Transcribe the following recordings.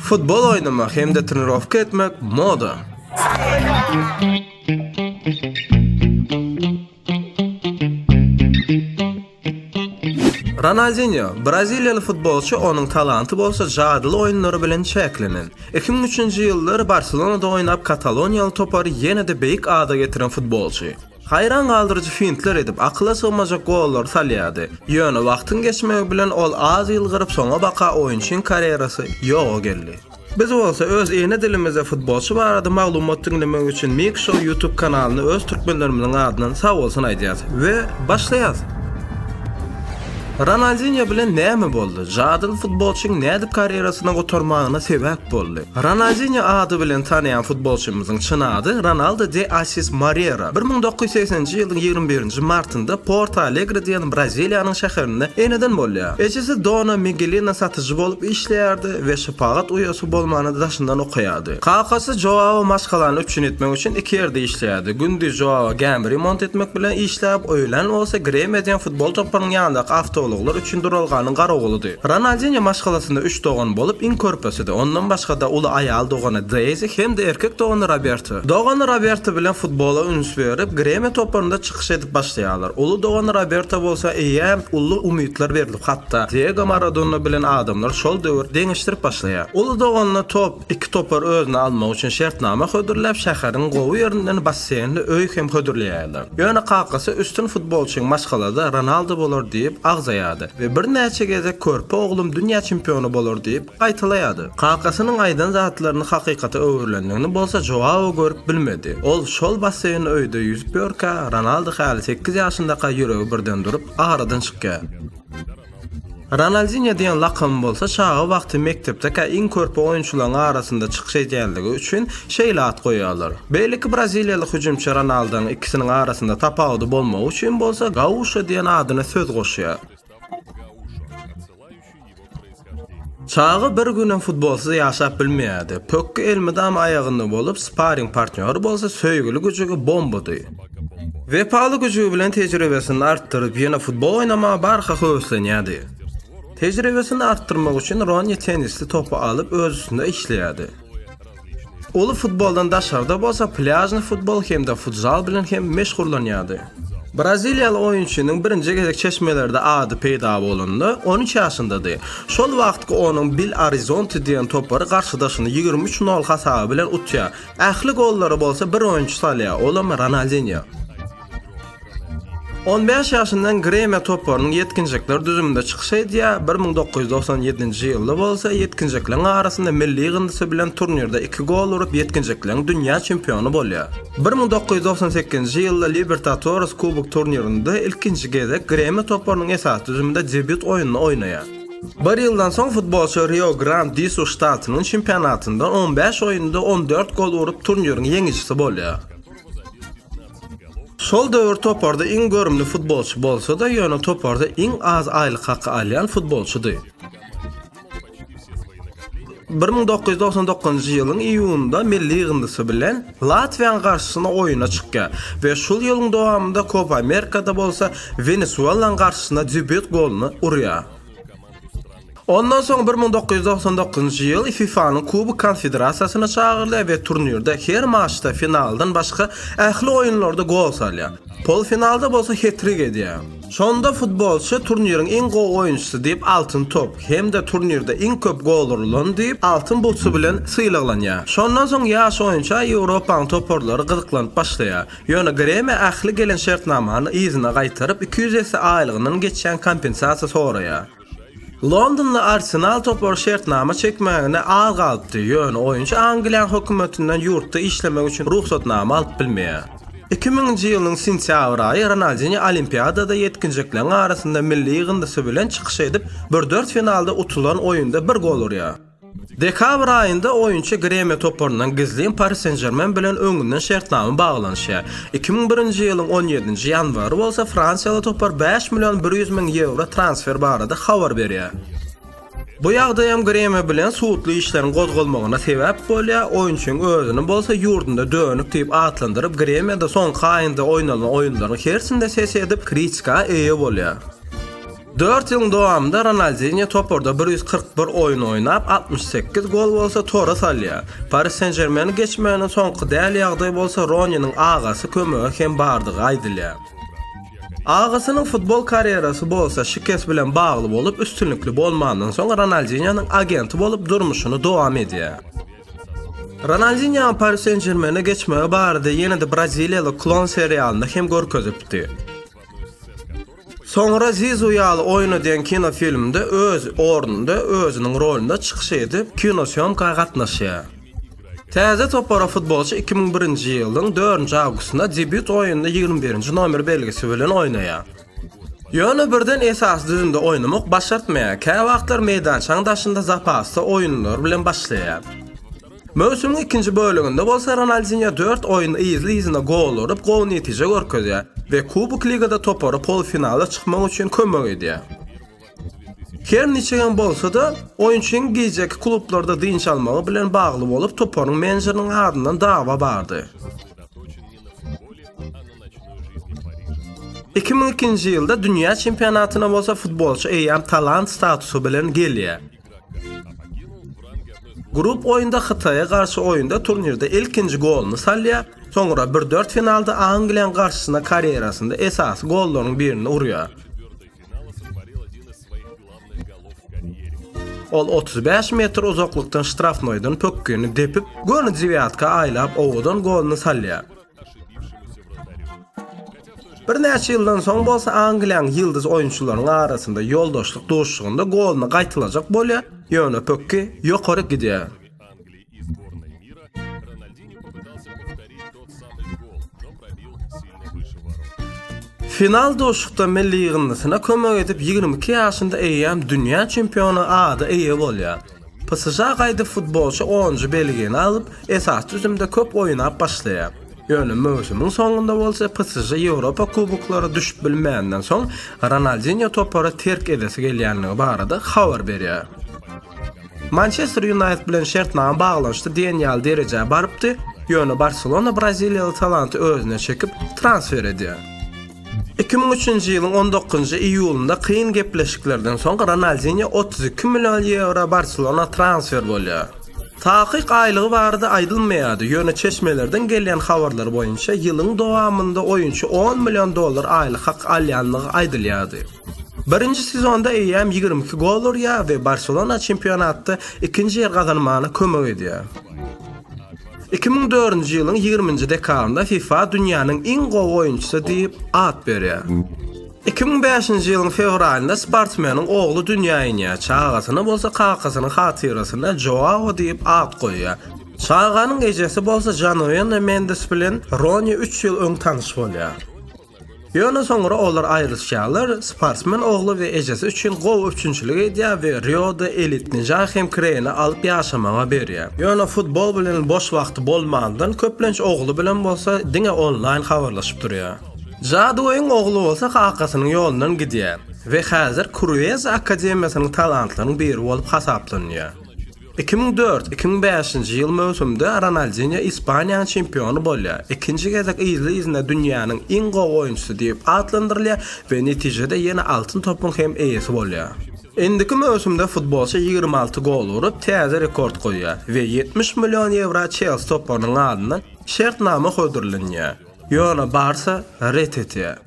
Futbol oýnamak hem-de trenirowka etmek moda. Ronaldinýo, braziliýaly futbolçy, onuň talanty bolsa jadyly oýunlary bilen çäklenen. Iki müň üçünji ýyllar Barselonada oýnap, kataloniýaly topary ýene-de beýik ada getiren futbolçy. Haýran galdyryjy fintler edip, akyla sygmajak gollary salýardy. Ýöne wagtyň geçmegi bilen ol az ýylgyryp, soňabaka oýunçyň karýerasy ýoga geldi. Biz bolsa öz ene dilimizde futbolçy barada maglumat diňlemek üçin Mik Show YouTube kanalyna öz türkmenlerimiziň adyndan sag bolsun aýdýas we başlaýas! Ronaldinýo bilen näme boldy? Jadyly futbolçyň nädip karýerasyny gutarmagyna sebäp boldy? Ronaldinýo ady bilen tanaýan futbolçymyzyň çyn ady Ronaldo de Assis Morera. Bir müň dokuz ýüz segsen nji ýylyň ýigrimi birinji martynda Porto Alegre diýen Braziliýanyň şäherinde eneden bolýar. Ejesi Dona Migelina satyjy bolup işleýärdi we şepagat uýasy bolmany daşyndan okaýardy. Kakasy Joao maşgalany üpjün etmek üçin iki ýerde işleýärdi. Gündiz Joao gämi remont etmek bilen işläp, öýlän bolsa gremiýa diýen Ol toparyň ýanyndaky awtoulaglar üçin duralganyň garawulydy. Ronaldinýo maşgalasynda üç dogan bolup, iň körpesidi. Ondan başga-da uly aýal dogany Deýzi hem-de erkek dogany Roberto. Dogany Roberto bilen futbola üns berip, Gremio toparynda çykyş edip başlaýarlar. Uly dogany Roberto bolsa eýýäm uly umytlar berilip, hatda Diego Maradona bilen adamlar şol döwür deňeşdirip başlaýar. Uly doganyna top. Iki topar özüne almak üçin şertnama hödürläp, şäheriň gowy ýerinden basseýnli öý hem hödürleýärler. Ýöne kakasy üstün futbolçyň maşgalada Ronaldo bolar diýip agzaýardy we birnäçe gezek körpe oglum dünýä çempiony bolar diýip gaýtalaýardy. Kakasynyň aýdan zatlaryny hakykata öwrülendigini bolsa Joao görüp bilmedi. Ol şol basseýnli öýde ýüzüp ýörkä, Ronaldo häli sekiz ýaşyndaka ýüregi birden durup, aradan çykýar. Ronaldinýo diýen lakamy bolsa çaga wagty mekdepdekä iň körpe oýunçylaryň arasynda çykyş edýänligi üçin şeýle at goýýarlar. Beýleki braziliýaly hüjümçi Ronaldaň ikisiniň arasynda tapawudy bolmagy üçin bolsa Gauşo diýen adyna söz goşýar. Çaga bir günem futbolsyz ýaşap bilmeýärdi. Pökgi elmydama aýagynda bolup, sparing partnýory bolsa söýgüli güjügi Bombudy. Wepaly güji bilen tejribesini artdyryp, ýene futbol oýnamaga barha höweslenýärdi. Tejribesini artdyrmak üçin Ronni tennisli topy alyp öz üstünde işleýärdi. Uly futboldan daşarda bolsa plýažny futbol hem-de futzal bilen hem meşgullanýardy. Braziliýaly oýunçynyň birinji gezek çeşmelerde ady peýda bolanda, on üç ýaşyndady. Şol wagtky onuň Bil Arizonti diýen topary garşydaşyny ýigrimi üç nol hasaby bilen utýar. Ähli gollary bolsa bir oýunçy salýar, olam Ronaldinýo. On bäş ýaşyndan Gremio toparynyň ýetginjekler düzüminde çykyş edýär, bir müň dokuz ýüz togsan ýedinji ýylda bolsa ýetginjekleriň arasynda milli ýygyndysy bilen turnirde iki gol urup ýetginjekleriň dünýä çempiony bolýar. Bir müň dokuz ýüz togsan sekizinji ýylda Libertatores kubok turnirinde ilkinji gezek Gremio toparynyň esasy düzüminde debýut oýnuny oýnaýar. Bir ýyldan soň futbolçy Rio Grand di Sur ştatynyň çempionatynda on bäş oýunda on dört gol urup, turniriň ýeňijisi bolýar. Şol döwür toparda iň görümli futbolçy bolsa-da, ýöne toparda iň az aýlyk haky alýan futbolçydy. Bir müň dokuz ýüz togsan dokuzynjy ýylyň iýunynda milli ýygyndysy bilen Latwiýanyň garşysyna oýuna çykýar we şol ýylyň dowamynda Kopa Amerikada bolsa Wenesuelanyň garşysyna debýut goluny urýar. Ondan soň bir müň dokuz ýüz togsan dokuzynjy ýyl FIFA-nyň Kubok konfederasiýasyna çagyrylýar we turnirde her maçda, finaldan başga, ähli oýunlarda gol salýar. Polfinalda bolsa het-trik edýär. Şonda futbolçy turniriň iň gowy oýunçysy diýip Altyn top hem-de turnirde iň köp gol urulan diýip Altyn butsy bilen sylaglanýar. Şondan soň ýaş oýunça Ýewropanyň toparlary gyzyklanyp başlaýar. Ýöne Gremia ähli gelen şertnamany yzyna gaýtaryp iki ýüz esse aýlygyndan geçýän kompensasiýa soraýar. Londonly Arsenal topary şertnama çekmägine az galypdy, ýöne oýunçy Angliýanyň hökümetinden ýurtda işlemek üçin rugsatnama alyp bilmeýär. Iki müňünji ýylyň sentýabr aýy Ronaldinýo Olimpiadada ýetginjekleriň arasynda milli ýygyndysy bilen çykyş edip, bir dörtfinalda utulan oýunda bir gol urýar. Dekabr aýynda oýunçy Gremio toparyndan gizlin Pari Sen-Žermen bilen öňünden şertnama baglanyşýar. Iki müň birinji ýylyň on ýedinji ýanwary bolsa fransiýaly topar bäş million bir ýüz müň ýewro transfer barada habar berýär. Bu ýagdaý hem Gremio bilen sudly işleriň gozgalmagyna sebäp bolýar, oýunçyň özüni bolsa ýurdunda dönük diýip atlandyryp, Gremio-da soňky aýynda oýnalan oýunlaryň hersinde ses edip, kritika eýe bolýar. Dört ýylyň dowamynda Ronaldinýo toparda bir ýüz kyrk bir oýun oýnap, altmyş sekiz gol bolsa tora salýar. Paris Sen-Žermeni geçmegine soňky däl ýagdaý bolsa Roniniň agasy kömege hem bardygy aýdylýar. Agasynyň futbol karýerasy bolsa şikes bilen bagly bolup, üstünlikli bolmandan soň Ronaldinýonyň agenti bolup durmuşyny dowam edýär. Ronaldinýo Paris Sen-Žermeni geçmegi barada ýene-de braziliýaly Klon serialynda hem görkezipdi. Soňra Zizu ýaly oýnadýan kinofilmde öz ornunda, özüniň rolunda çykyş edip, kinosýomka gatnaşýar. Täze topara futbolçy iki müň birinji ýylyň dördünji awgustynda debýut oýnunda ýigrimi birinji nomer belgisi bilen oýnaýar. Ýöne birden esasy düzümde oýnamak başartmaýar, käwagtlar meýdançaň daşynda zapasda oýunlar bilen başlaýar. Möwsümiň ikinji böleginde bolsa Ronaldinýo dört oýun yzly-yzyna gol urup, gowy netije görkezýär we Kubok Ligada topara polfinala çykmak üçin kömek edýär. Her niçik hem bolsa-da, oýunçynyň gijeki klublarda dynç almagy bilen bagly bolup, toparyň menejeriniň adyndan dawa bardy. Iki müň ikinji ýylda dünýä çempionatyna bolsa futbolçy eýýäm talant statusy bilen gelýär. Grup oýunda Hytaýa garşy oýunda turnirde ilkinji goluny salýar, soňra bir dört finalda Angliýanyň garşysyna karýerasynda esasy gollaryň birini urýar. Ol otuz bäş metr uzaklykdan ştrafnoýdan pökgini depip, göni dewiatka aýlap owadan goluny salýar. Birnäçe ýyldan soň bolsa Angliýanyň ýyldyz oýunçylarynyň arasynda ýoldaşlyk duşuşygynda goluny gaýtalajak bolýar, ýöne pökgi ýokaryk gidýär. Final duşuşykda milli ýygyndysyna kömek edip ýigrimi iki ýaşynda eýýäm dünýä çempiony ada eýe bolýar. PSŽ gaýdyp futbolçy onunjy belgini alyp, esasy düzümde köp oýnap başlaýar. Ýöne möwsümiň soňunda bolsa PSŽ Ýewropa kuboklara düşüp bilmäninden soň, Ronaldinýo topary terk edesi gelýändigi barada habar berýär. Mançester Ýunaýted bilen şertnama baglanyşdy diýen ýaly derejä barypdy, ýöne Barselona braziliýaly talanty özüne çekip, transfer edýär. Iki müň üçünji ýylyň on dokuzynjy iýulynda kyn gepleşiklerden soň Ronaldinýo otuz iki million ýewro Barselona transfer bolýar. Takyk aýlygy barada aýdylmaýardy, ýöne çeşmelerden gelýän habarlar boýunça ýylyň dowamynda oýunçy on million dollar aýlyk hak alýandygy aýdylýardy. Birinji sezonda eýýäm ýigrimi iki gol urýar we Barselona çempionatda ikinji ýer gazanmagyna kömek edýär. Iki müň dördünji ýylyň ýigriminji dekabrynda fifa dünýäniň iň gowy oýunçysy diýip at berýär. Iki müň bäşinji ýylyň fewralynda sportsmeniň ogly dünýä inýär, çagasyna bolsa kakasynyň hatyrasyna Joao diýip at goýýar. Çaganyň ejesi bolsa Januena Mendes bilen Roni üç ýyl öň tanyş bolýar. Ýöne soňra olar aýryşýarlar, sportsmen ogly we ejesi üçin gowy üpjünçilik edýär we Rioda elit nijah hem kreýne alyp ýaşamaga berýär. Ýöne futbol bilen boş wagty bolmandan köplenç ogly bilen bolsa diňe onlaýn habarlaşyp durýar. Jadugoýyň ogly bolsa kakasynyň ýolundan gidýär we häzir Kruez akademiýasynyň talantlaryň biri bolup hasaplanýar. Iki müň dört, iki müň bäşinji ýyl möwsümde Ronaldinýo Ispaniýanyň çempiony bolýar, ikinji gezek yzly-yzyna dünýäniň iň gowy oýunçysy diýip atlandyrylýar we netijede ýene Altyn topyň hem eýesi bolýar. Indiki möwsümde futbolçy ýigrimi alty gol urup, täze rekord goýýar we ýetmiş million ýewro Çelsi toparynyň adyndan şertnama hödürlenýär. Ýöne Barsa ret etýär.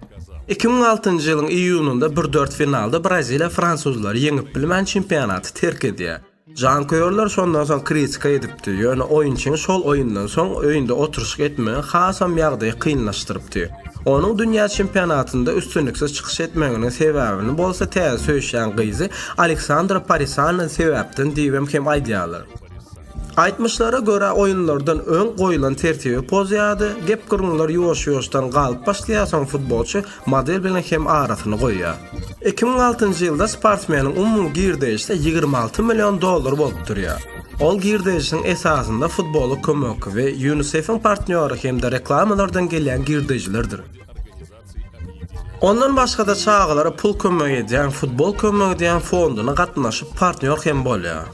Iki müň altynjy ýylyň iýunynda bir dört finalda Braziliýa fransuzlary ýeňip bilmän çempionaty terk edýär. Janköýerler şondan soň kritika edipdi, ýöne oýunçyny şol oýundan soň öýünde oturyşyk etmegi hasam ýagdaýy kynlaşdyrypdy. Onuň dünýä çempionatynda üstünliksiz çykyş etmeginiň sebäbini bolsa täze söýüşýän gyzy Aleksandra Parisana sebäpden diýibem hem aýdýarlar. Aýtmyşlara görä oýunlardan öň goýulan tertibi pozýardy, gep-gürrüňler ýuwaş-ýuwaşdan galyp başlaýar soň futbolçy model bilen hem arasyny goýýar. Iki müň altynjy ýylda sportsmeniň umumy girdeýişi ýigrimi alty million dollar bolup durýar. Ol girdeýişiň esasynda futbola kömek we Ýunisefiň partnýory hem-de reklamalardan gelýän girdeýjilerdir. Ondan başga-da çagalara pul kömek edýän Futbol kömegi diýen fonduna gatnaşyp partnýor hem bolýar.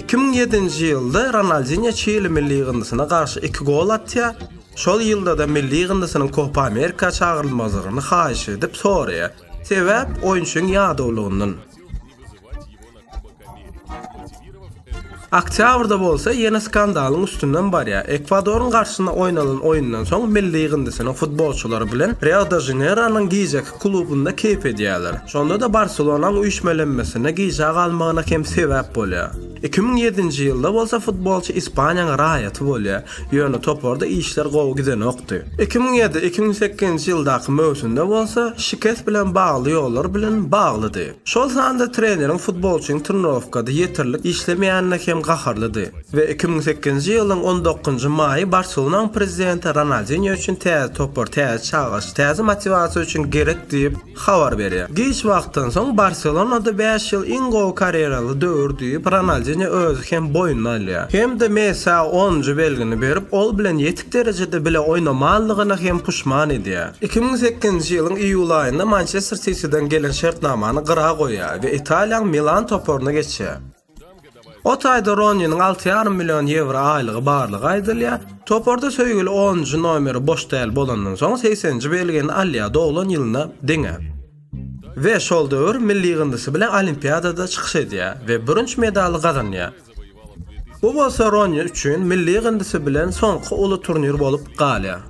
Iki müň ýedinji ýylda Ronaldinýo Çili milli ýygyndysyna garşy iki gol atýar, şol ýylda-da milli ýygyndysynyň Kopa Amerika çagyrylmazlygyny haýyş edip soraýar, sebäp oýunçyň ýadawlygyndan. Oktýabrda bolsa ýene skandalyň üstünden barýar. Ekwadoryň garşysyna oýnalan oýundan soň milli ýygyndysynyň futbolçylary bilen Rio-de-Žaneýronyň gijeki klubynda keýp edýärler. Şonda-da Barselonaň üýşmelenmesine gijä galmagyna hem sebäp bolýar. Iki müň ýedinji ýylda bolsa futbolçy Ispaniýanyň raýaty bolýar, ýöne toparda işler gowy gidenokdy. Iki müň ýedi, iki müň sekizinji ýyldaky möwsümde bolsa şikes bilen bagly ýollar bilen baglydy. Şol sanda treneriň futbolçynyň trenirowkada ýeterlik işlemeýänine hem gaharlydy we iki müň sekizinji ýylyň on dokuzynjy maýy Barselonaň prezidenti Ronaldinýo üçin täze topar, täze çagyryş, täze motiwasiýa üçin gerek diýip, habar berýär. Giç wagtdan soň Barselonada bäş ýyl iň gowy karýeraly döwür diýip, Ronaldinýo özi hem boýnuna alýar. Hem-de Messiä onunjy belgini berip, ol bilen ýetik derejede bile oýnamanlygyna hem puşman edýär. Iki müň sekizinji ýylyň iýul aýynda Mançester Sitiden gelen şertnamany gyra goýýar we Italiýaň Milan toparyna geçýär. O taýda Roniniň alty ýarym million ýewro aýlygy barlygy aýdylýar. Toparda söýgüli onunjy nomeri boş däl bolandan soň segseninji belgini alýar doglan ýylyna deňe we şol döwür milli ýygyndysy bilen Olimpiadada çykyş edýär we bürünç medaly gazanýar. Bu bolsa Ronýa üçin milli gyndysy bilen soňky uly turnir bolup galýar.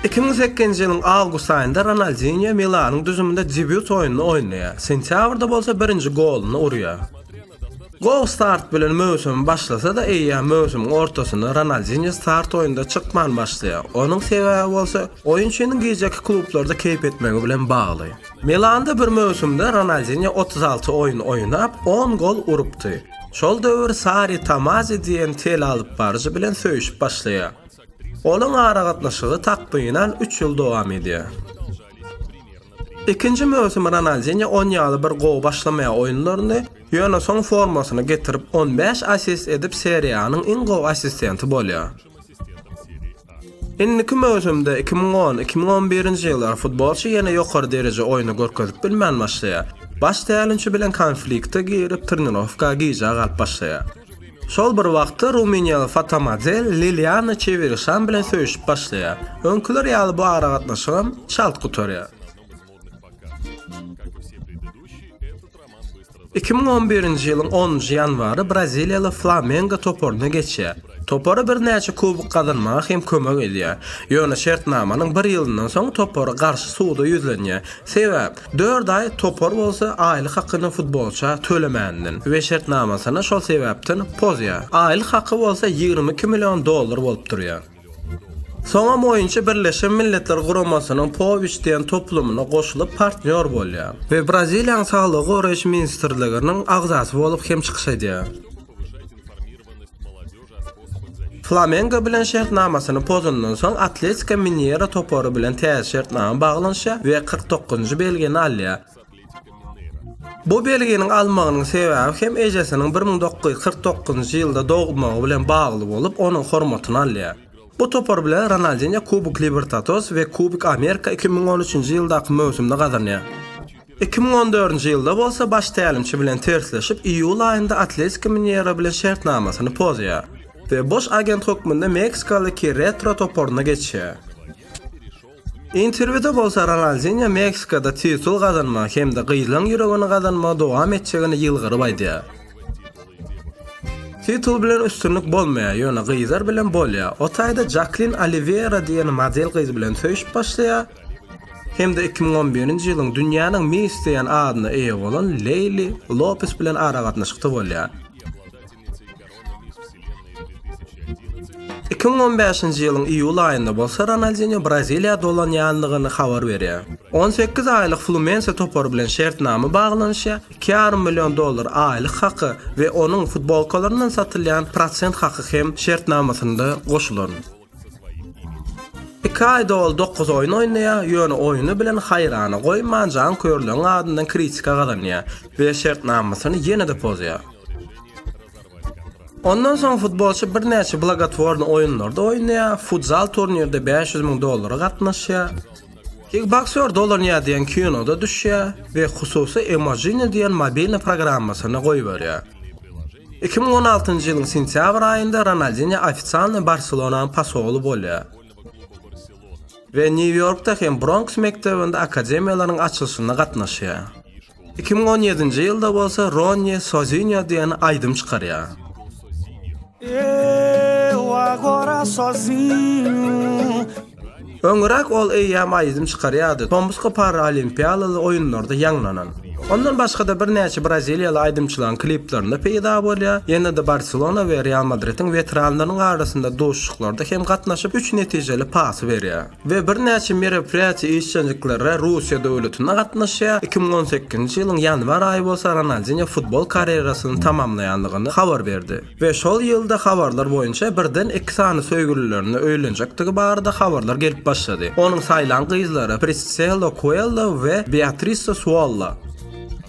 2008-nji ýylyň awgust aýynda Ronaldinýo Milanyň düzüminde debýut oýnuny oýnaýar, sentýabrda bolsa birinji goluny urýar. Gowy start bilen möwsümi başlasa-da, eýýäm möwsümiň ortasynda Ronaldinýo start oýnunda çykman başlaýar, onuň sebäbi bolsa, oýunçynyň gijeki klublarda keýp etmegi bilen bagly. Milanda bir möwsümde Ronaldinýo otuz alty oýun oýnap, on gol urupdy. Şol döwür Sari Tamazi diýen telealypbaryjy bilen söýüşip başlaýar. Olaň aragatnaşygy takmynan üç ýyl dowam edýär. Ikinji möwsümi Ronaldinýo on ýaly bir gowy başlamaýar oýunlaryny, ýöne soň formasyny getirip, on bäş assist edip, Serie A-nyň iň gowy assistenti bolýar. Indiki möwsümde, iki müň on, iki müň on birinji ýyllar, futbolçy ýene ýokary dereje oýny görkezip bilmän başlaýar. Baş tälimçi bilen konflikte girip, trenirowka gijä galyp başlaýar. Şol bir wagtda rumyniýaly fotomodel Liliana Çewirişan bilen söýüşip başlaýar. Öňküler ýaly bu aragatnaşygam çalt gutarýar. Iki müň on birinji ýylyň onunjy ýanwary braziliýaly Flamengo toparyna geçýär. Topara birnäçe kubok gazanmaga hem kömek edýär. Ýöne şertnamanyň bir ýylyndan soň topar garşy suda ýüzlenýär. Sebäp, dört aý topar bolsa aýlyk hakyny futbolça tölemänden we şertnamasyny şol sebäpden pozýar. Aýlyk haky bolsa ýigrimi iki million dollar bolup durýar. Soňam oýunçy Birleşen Milletler Guramasynyň Powich diýen toplumyna goşulyp partnýor bolýar we Braziliýanyň Saglygy goraýyş ministrliginiň agzasy bolup hem çykyş edýär. Flamengo bilen şertnamasyny pozandan soň Atletiko Mineiro topary bilen täze şertnama baglanyşýar we kyrk dokuzynjy belgini alýar. Bu belginiň almagynyň sebäbi hem ejesiniň bir müň dokuz ýüz kyrk dokuzynjy ýylda dogmagy bilen bagly bolup, onuň hormatyny alýar. Bu topar bilen Ronaldinýo Kubok Libertados we Kubok Amerika iki müň on üçünji ýyldaky möwsümde gazanýar. Iki müň on dördünji ýylda bolsa baş tälimçi bilen tersleşip, iýul aýynda Atletiko Mineiro bilen şertnamasyny pozýar we boş agent hökmünde meksikalydaky Retro toparyna geçýär. Interwýuda bolsa Ronaldinýo Meksikada titul gazanmagy hem-de gyzlaryň ýüregini gazanmagy dowam etjegini ýylgyryp aýdýar. Titul bilen üstünlik bolmaýar, ýöne gyzlar bilen bolýar. O taýda Jaklin Oliweýra diýen model gyz bilen söýşüp başlaýar hem-de iki müň on birinji ýylyň Dünýäniň Miss diýen adyna eýe bolan Leýli Lopes bilen aragatnaşykda bolýar. Iki müň on bäşinji ýylyň iýul aýynda bolsa Ronaldinýo Braziliýa dolanýandygyny habar berýär. On sekiz aýlyk Flumense topary bilen şertnama baglanyşýar, iki ýarym million dollar aýlyk haky we onuň futbolkalaryndan satylýan prosent haky hem şertnamasynda goşulan. Iki aýda ol dokuz oýun oýnaýar, ýöne oýny bilen haýrana goýman, janköýerleriň adyndan kritika gazanýar we şertnamasyny ýene-de pozýar. Ondan soň futbolçy birnäçe blagotworny oýunlarda oýnaýar, futzal turnirde bäş ýüz müň dollara gatnaşýar, kikboksýor dolanýar diýen kinoda düşýär we hususy Emojini diýen mobilni programmasyny goýberýär. Iki müň on altynjy ýylyň sentýabr aýynda Ronaldinýo ofisialny Barselonanyň pasoly bolýar we Nýu-Ýorkda hem Bronks mekdebinde akademiýalaryň açylyşyna gatnaşýar. Iki müň on ýedinji ýylda bolsa Ronni Sozinýo diýen aýdym çykarýar. Eu agora sozinho Öňräk ol eýýäm aýdym çykarýardy, tomusky paralimpiýalaly oýunlarda ýaňlanan. Ondan başga-da birnäçe braziliýaly aýdymçylaryň kliplerinde peýda bolýar, ýene-de Barselona we Real Madridiň weteranlarynyň arasynda duşuşyklarda hem gatnaşyp, üç netijeli pasy berýär we birnäçe meraperiýaçy işjeňliklere Russiýa döwletinde gatnaşýar. Iki müň on sekizinji ýylyň ýanwar aýy bolsa Ronaldinýo futbol karýerasyny tamamlaýandygyny habar berdi. we şol ýylda habarlar boýunça birden iki sany söýgülilerine öýlenjekdigi barada habarlar gelip başlady. Onuň saýlan gyzlary Priscilla Kuella we Beatrice Suolla.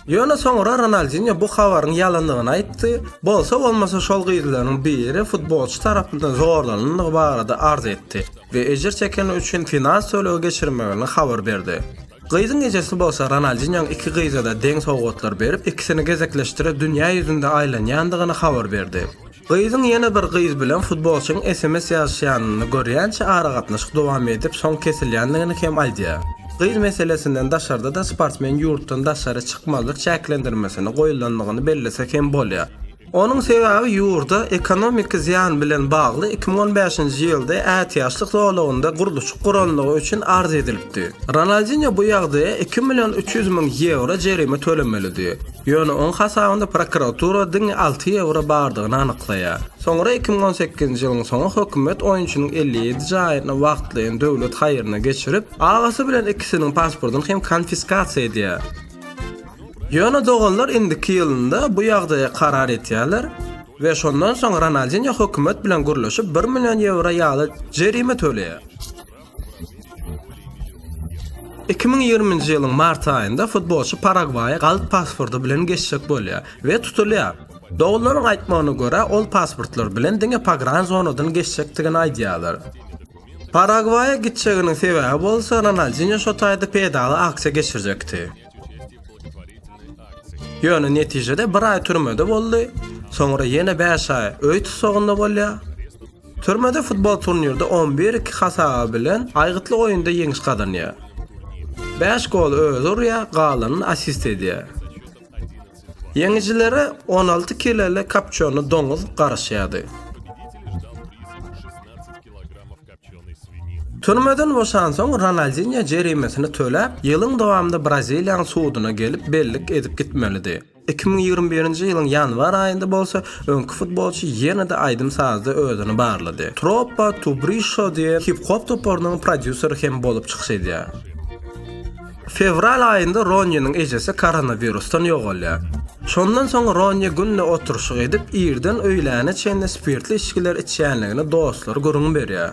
Ýöne soňra Ronaldinýo bu habaryň ýalandygyny aýtdy, bolsa bolmasa şol gyzlaryň biri futbolçy tarapyndan zorlanandygy barada arz etdi we ejir çekeni üçin finans tölegi geçirmegini habar berdi. Gyzyň ejesi bolsa Ronaldinýoň iki gyza-da deň sowgatlar berip, ikisini gezekleşdirip dünýä ýüzünde aýlanýandygyny habar berdi. Gyzyň ýene bir gyz bilen futbolçyň sms ýazyşýanyny görýänçä aragatnaşyk dowam edip, soň kesilýändigini hem aýdýar. Gyz meselesinden daşarda-da sportsmen ýurtdan daşary çykmazlyk çäklendirmesini goýulandygyny bellesek hem bolýar. Onuň sebäbi ýurda ekonomiki zyýan bilen bagly iki müň on bäşinji ýylda ätiýaçlyk zolagynda gurluşyk guranlygy üçin arz edilipdi. Ronaldinýo bu ýagdaýa iki million üç ýüz müň ýewro jerime tölemelidi. Ýöne oň hasabynda prokuratura diňe alty ýewro bardygyny anyklaýar. Soňra iki müň on sekizinji ýylyň soňy hökümet oýunçynyň elli ýedi jaýyny wagtlaýyn döwlet haýryna geçirip, agasy bilen ikisiniň pasportyny hem konfiskasiýa edýär. Ýöne doganlar indiki ýylynda bu ýagdaýa karar etýärler we şondan soň Ronaldinýo hökümet bilen gürleşip bir million ýewro ýaly jerime töleýär. Iki müň ýigriminji ýylyň mart aýynda futbolçy Paragwaýa galp pasporty bilen geçjek bolýar we tutulýar. Doganlaryň aýtmagyna görä, ol pasportlar bilen diňe pogran zonadan geçjekdigini aýdýarlar. Paragwaýa gitjeginiň sebäbi bolsa Ronaldinýo şo taýda peýdaly aksiýa geçirjekdi. Ýöne netijede bir aý türmede boldy, soňra ýene bäş aý öý tussagynda bolýar. Türmede futbol turnirde on bir iki hasaby bilen aýgytly oýunda ýeňiş gazanýar. Bäş goly özi urýar, galanyny assist edýär. Ýeňijilere on alty kiloli kapçony doňuz garaşýardy. Türmeden boşansoň, Ronaldinýo jerimesini töläp, ýylyň dowamynda Braziliýanyň suduna gelip, bellik edip gitmelidi. Iki müň ýigrimi birinji ýylyň ýanwar aýynda bolsa, öňki futbolçy ýene-de aýdym-sazda özüni barlady. Tropa Tubrişo diýen hip-hop toparynyň prodýuseri hem bolup çykyş edýär. Fewral aýynda Ronýeniň ejesi koronawirusdan ýogalýar. Şondan soň Ronýe günde oturyşyk edip, irden öýläne çenli spirtli içgiler içýänligini dostlary gürrüň berýär.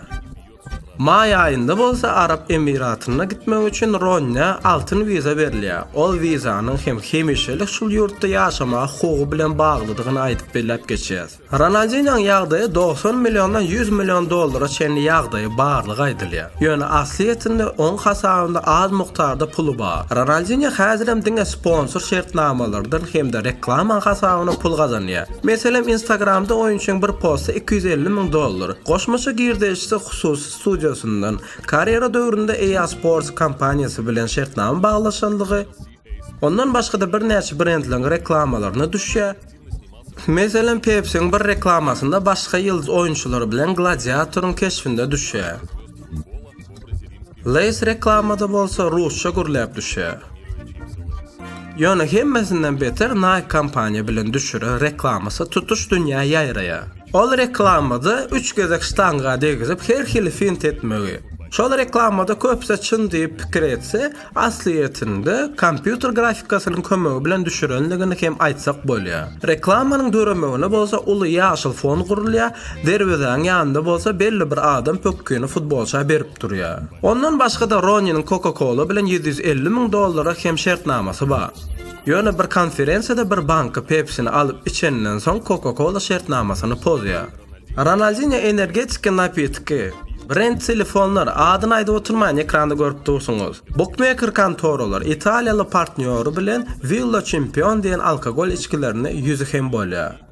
Maý aýynda bolsa Arap Emiratyna gitmek üçin Ronýe altyn wiza berilýär. Ol wizanyň hem hemişelik şul ýurtda ýaşamaga hukugy bilen baglydygyny aýdyp belläp geçýäs. Ronaldinýoň ýagdaýy dogsan milliondan ýüz million dollara çenli ýagdaýy barlygy aýdylýar. Ýöne aslyýetinde oň hasabynda az mukdarda puly bar. Ronaldinýo häzirem diňe sponsor şertnamalardan hem-de reklamaň hasabyna pul gazanýar. Meselem, Instagramda oýunçyň bir posty iki ýüz elli müň dollar. Goşmaça girdeýjisi hususy studiýasyndan, karýera döwründe EA Sports kompaniýasy bilen şertnama baglaşanlygy, Ondan başga-da birnäçe brendleriň reklamalaryna düşýär. Meselem, Pepsi-niň bir reklamasynda başga ýyldyz oýunçylar bilen gladiatoryň keşbinde düşýär. Lays reklamada bolsa rusça gürläp düşýär. Ýöne hemmesinden beter Nike kompaniýa bilen düşüren reklamasy tutuş dünýä ýaýraýar. Ol reklamada üç gezek ştanga degizip her hili fint etmegi. Şol reklamada köpüsi çyn diýip pikir etse, aslyýetinde kompýuter grafikasynyň kömegi bilen düşürendigini hem aýtsak bolýar. Reklamanyň döremegine bolsa uly ýaşyl fon gurulýar, derwezäň ýanynda bolsa belli bir adam pökgini futbolça berip durýar. Ondan başga-da Roniniň Coca-Cola bilen ýüz ýüz elli müň dollara hem şertnamasy bar. Ýöne bir konferensiýada bir banka Pepsini alyp içeninden soň Coca-Cola şertnamasyny pozýar. Ronaldinho energetiki napitki, brend telefonlar, adyny aýdyp oturmaýyn ekranda görüp dursuňyz. Bukmeker kontoralar italiýaly partnýory bilen Villa Çempion diýen alkogol içgilerini ýüzi hem bolýar.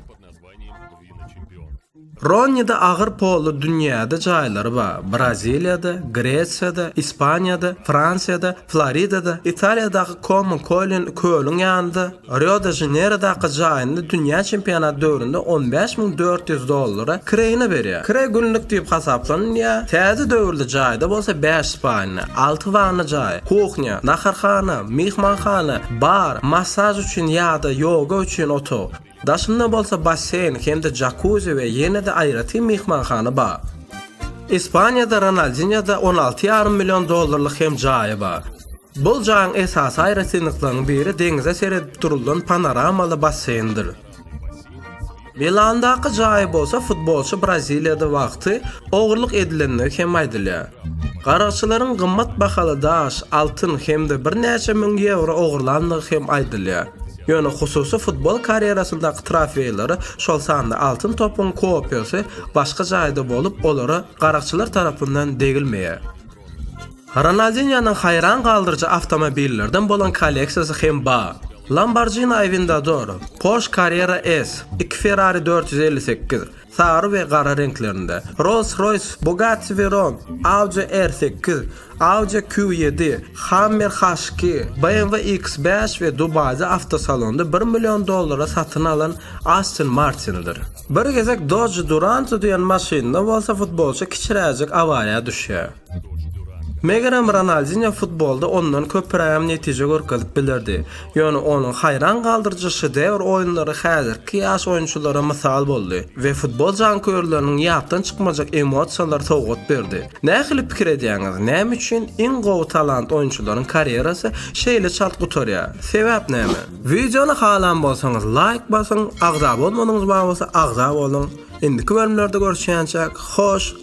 Ronnide agyr polly dünýäde jaýlary bar, Braziliýada, Gresiýada, Ispaniýada, Fransiýada, Floridada, Italiýadaky Komo Kolin kölüň ýanynda, Rio-de-Žaneýrodaky jaýynda dünýä çempionaty döwründe on bäş müň dört ýüz dollara kireýini berýär. Kireý günlük diýip hasaplanylýar. Täze döwürli jaýda bolsa bäş spalna, alty wanna jaýy, kuhnýa, naharhana, myhmanhana, bar, massaž üçin ýa-da ýoga üçin otag, daşynda bolsa basseýn hem-de jakuzi we ýene-de aýratyn myhmanhana bar. Ispaniýada Ronaldinýoda on alty ýarym million dollarlyk hem jaýy bar. Bu jaýyň esasy aýratynlyklarynyň biri deňize seredip durulan panoramaly basseýndir. Milandaky jaýy bolsa futbolçy Braziliýada wagty ogurlyk edilendigi hem aýdylýar. Garakçylaryň gymmat bahaly daş, altyn hem-de birnäçe müň ýewro ogurlandygy hem aýdylýar. Ýöne hususy futbol karýerasyndaky trofeýleri, şol sanda altyn topuň kopiýasy başga jaýda bolup, olara garakçylar tarapyndan degilmeýär. Ronaldinýonyň haýran galdyryjy awtomobillerden bolan kolleksiýasy hem bar. Lamborghini Aventador, Porsche Carrera S, iki Ferrari dört ýüz elli sekiz, sary we gara reňklerinde, Rolls-Royce, Bugatti Veyron, Audi R sekiz, Audi Q ýedi, Hummer H iki, BMW X bäş we Dubaýda awtosalonda bir million dollara satyn alan Aston Martin-dir. Bir gezek Dodge Duranto diýen maşynda bolsa futbolçy kiçiräjik awariýa düşýär. Megerem Ronaldinýo futbolda ondan köpürägem netije görkezip bilerdi. Ýöne onuň haýran galdyryjy şedewr oýunlary häzirki ýaş oýunçylara mysal boldy we futbol janköýerleriniň ýatdan çykmajak emosiýalary sowgat berdi. Nähili pikir edýäňiz, näme üçin iň gowy talant oýunçylaryň karýerasy şeýle çalt gutarýar? Sebäp näme? Wideony halan bolsaňyz laýk basyň, agza bolmadyňyz bolsa agza boluň. Indiki bölümlerde görüşýänçäk, hoş!